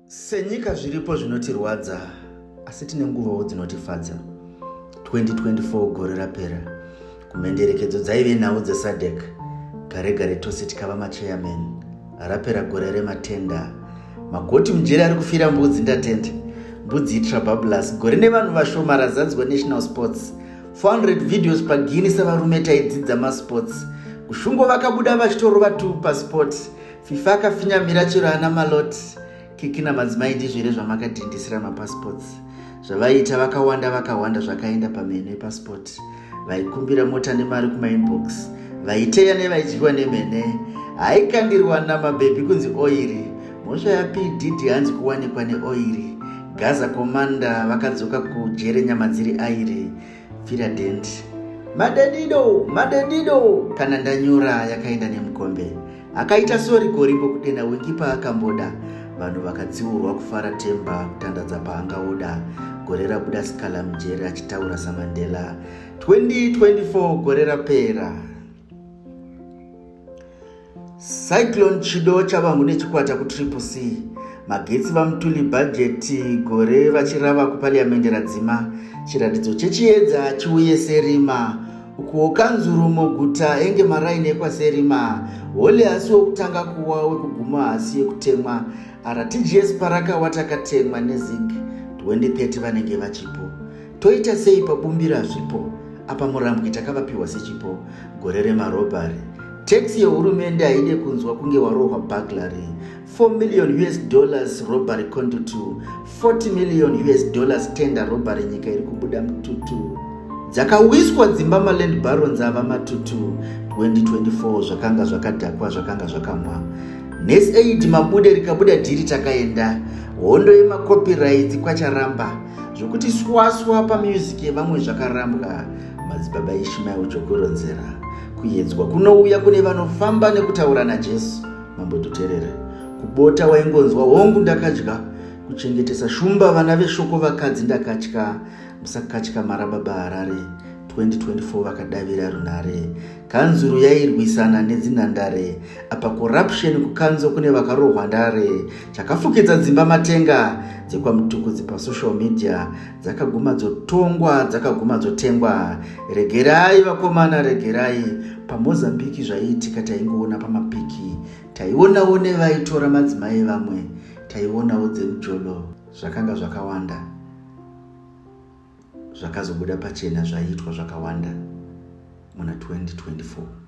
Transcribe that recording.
Senyika zviripo zvinotirwadza asi tine nguvawo dzinotifadza. 2024 gore rapera kumhenderekedzo dzaive nhau dzesadec gare gare tose tikava machairman rapera gore rematenda magoti mujeri ari kufira mbudzi ndatenda mbudzi itrababulus gore nevanhu vashoma razadzwa national sports 400 videos pagini sevarume taidzidza masports kushungo vakabuda vachitorova tu pasports fifa akafinyamira chero ana malot kiki namadzimai ndizvere zvamakadhindisira mapassports zvavaiita vakawanda vakawanda zvakaenda pamheno epassport vaikumbira mota nemari kumainbox vaiteya nevaidyiwa nemhene haikandirwa namabhebhi kunzi oiri mhosva yapididi hanzi kuwanikwa neoiri gaza komanda vakadzoka kujere nyama dziri airi fira dent madedido madedido kana ndanyura yakaenda nemukombe akaita sori gori pokudena wingi paakamboda vanhu vakatsiurwa kufara temba kutandadza paanga oda gore rabuda sikala mujeri achitaura samandela 2024 gore rapera cyclone chido chavangu nechikwata kutriple c magetsi vamutuli bhajeti gore vachirava kupariamende radzima chiratidzo chechiedza chiuye serima ukuwo kanzuru muguta enge maraini ekwaserima hole hasi wokutanga kuwa wekuguma hasi yekutemwa rtgs paraka watakatemwa nezig 2030 vanenge vachipo Toita sei pabumbira zvipo apa murambwi takavapiwa sechipo gore remarobhari tax yehurumende haide kunzwa kunge warohwa buglary 4 million us dollars robbery condo 2 40 million us dollars tender robbery nyika iri kubuda mututu dzakawiswa dzimba maland barons ava matutu 2024 zvakanga zvakadhakwa zvakanga zvakamwa nes aid mabude rikabuda dhiri takaenda hondo yemacopyrights kwacharamba zvokuti swaswa pamusic yevamwe zvakarambwa madzibaba ishimael chokuronzera kuyedzwa kunouya kune vanofamba nekutaura najesu mambo tuterere kubota waingonzwa hongu ndakadya kuchengetesa shumba vana veshoko vakadzi ndakatya musakatya marababa harare 2024 vakadavira runhare kanzuru yairwisana nedzinhandare apa corruption kukanzo kune vakarohwa ndare chakafukidza dzimba matenga dzekwamutukudzi pasocial media dzakaguma dzotongwa dzakaguma dzotengwa regerai vakomana regerai pamozambiki zvaiitika taingoona pamapiki taionawo nevaitora madzimai vamwe taionawo dzemujolo zvakanga zvakawanda zvakazobuda pachena zvaiitwa zvakawanda muna 2024